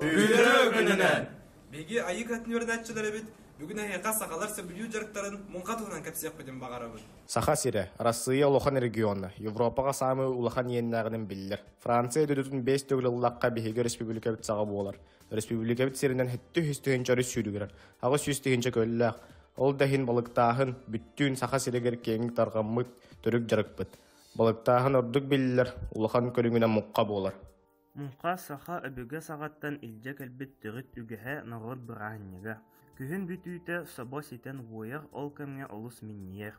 Үөрэ өгөнөнөн! Биги айык атын үөрдәтчилер эбит, бүгүн эһиэхэ сахалар сөбүлүү дьарыктарын муҥха туһунан кэпсиэхпитин баҕарабыт. Саха сирэ, Арассыыйа улахан региона, Европаҕа саамай улахан иэннээҕинин биллэр. Франция дойдутун биэс төгүл ыллахха биһиги республикабыт саҕа буолар. Республикабыт сиринэн һиттү үс тыһыынча өрүс сүүрүгүрэр. Аҕыс сүүс тыһыынча көллөөх. Ол да иһин балыктааһын бүттүүн Саха сиригэр киэҥник тарҕаммыт төрүк дьарыкпыт. Балыктааһын ордук биллэр, улахан көрүҥүнэн мукка буолар. Мукка саха өбүгэ саҕаттан илдьэ кэлбит төрүт үгэһэ норуот бырааһынньыга. Күһүн бүтүүтэ собо ситэн уойар, ол кэмҥэ олус минньийэр.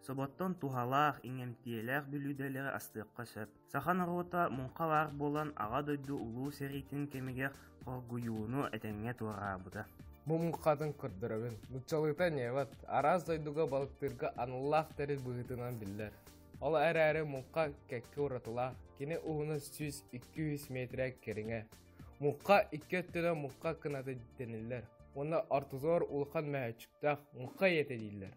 Соботтон туһалаах, иҥэмтиэлээх бүлүүдэлэри астыахха сөп. Саха норуота муҥха баар буолан, Аҕа дойду Улуу сэриитин кэмигэр хоргуйууну этэҥҥэ туораабыта. Бу муҥхатын көрдөрөбүн. Нууччалыыта неват, араас дойдуга балыктыырга аналлаах тэрил быһыытынан биллэр. Ол эрээри муҥха кэккэ уратылаах, кини уһуна сүүс икки жүз миэтирэ кэриҥэ. Муҥха икки өттүнэн муҥха кынаты дэниллэр уонна ортотугар улахан мөһөөччүктээх муҥха ийэтэ дииллэр.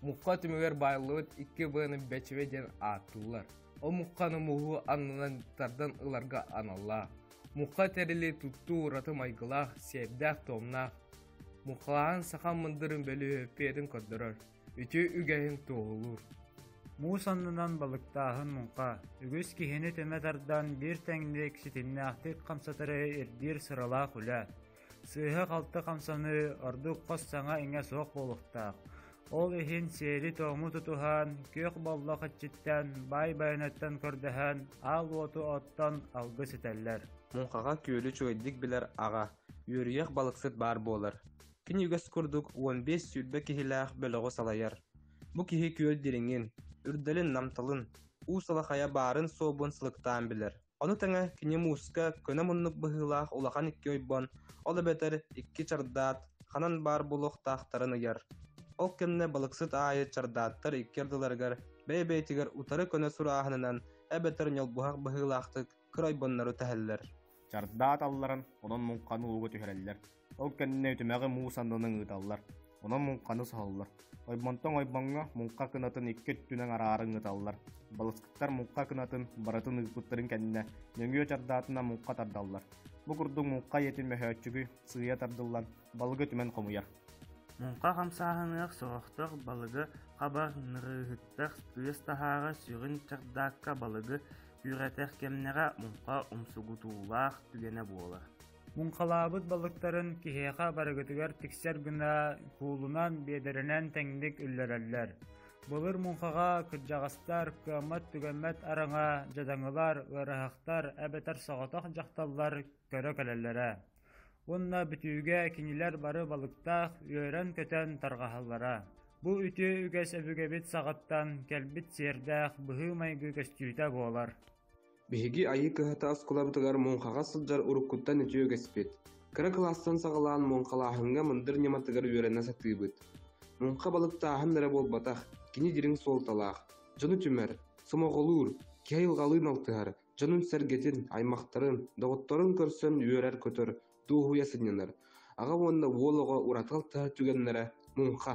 Мукка түмүгэр баайыллыбыт икки быаны Бэчевэ диэн ааттыыллар. Ол мукканы муһу аннынан тардан ыларга аналлаах. Мукка тэрили туттуу ураты майгылаах, сиэрдээх-туомнаах. Муккалаан саха мындырын бөлүһүөппүйэтин көрдөрөр, үтүө үгэһин туоһулуур. Муус аннынан балыктааһын муҥха, үгүс киһини түмэ тардан биир тэҥник ситимнээхтик хамсатары ирдиир сыралаах үлэ. Сыыһа-халты хамсаныы ордук хос саҥа-иҥэ суох буолуохтаах. Ол иһин сиэри-туому тутуһан, күөх боллох иччиттэн, баай байанаттан көрдөһөн, аал уоту оттон алгыс этэллэр. Муҥхаҕа күөлү үчүгэйдик билэр аҕа, үөрүйэх балыксыт баар буолар. Кини үгэс курдук уон биэс сүүрбэ киһилээх бөлөҕү салайар. Бу киһи күөл дириҥин, үрдэлин-намталын, уу салахайа баарын-суобун сылыктаан билэр. Ону тэҥэ кини мууска көнө муннук быһыылаах улахан икки ойбон, ол эбэтэр икки чардаат, ханан баар буолуохтаахтарын ыйар. Ол кэннэ балыксыт аайы чардааттар икки ардыларыгар бэйэ-бэйэтигэр утары көнө сурааһынынан эбэтэр ньолбуһах быһыылаахтык кыра ойбоннору тэһэллэр. Чардаат алларан, онон муҥханы ууга түһэрэллэр. Ол кэннэ үтүмэҕи муус аннынан ыыталлар. Онон муҥханы соһоллор. Ойбонтон ойбоҥҥо муҥха кынатын икки өттүнэн араарын ыыталлар. Балысктар муҥха кынатын барытын ыыппыттарын кэннэ нөҥүө чардаатына муҥха тардаллар. Бу курдук муҥха ийэтин мөһөөччүгү сыыйа тардыллан балыгы түмэн хомуйар. Муҥха хамсааһыныах соҕохтох балыгы хаба нырыыһыттах тыас таһааҕы сүрүн чардаакка балыгы күүрэтэх кэмнэҕэ муҥха умсугутуулаах түгэнэ буолар. Муҥхалаабыт балыктарын киһиэхэ барыгытыгар тиксэр гына куулунан, биэдэрэнэн тэҥник үллэрэллэр. Былыр муҥхаҕа кырдьаҕастар, кыаммат-түгэммэт араҥа, дьадаҥылар, ыараһахтар эбэтэр соҕотох дьахталлар көрө кэлэллэрэ. Уонна бүтүүгэ кинилэр бары балыктаах үөрэн-көтөн тарҕаһаллара. Бу үтүө үгэс өбүгэбит саҕаттан кэлбит сиэрдээх быһыы-майгы көстүүтэ буолар. Биһиги айыы кыһата оскуолабытыгар муҥхаҕа сылдьар уруккуттан үтүө үгэспит. Кыра кылаастан саҕалаан муҥхалааһыҥҥа мындыр ньыматыгар үөрэнэ сатыыбыт. Муҥха балыктааһын эрэ буолбатах, кини дириҥ суолталаах, дьону түмэр, сомоҕолуур, киһи айылҕалыын алтыһар, дьонун-сэргэтин, аймахтарын, доҕотторун көрсөн үөрэр-көтөр, дуоһуйа сынньанар. Аҕа уонна уол оҕо ураты алтыһар түгэннэрэ муҥха.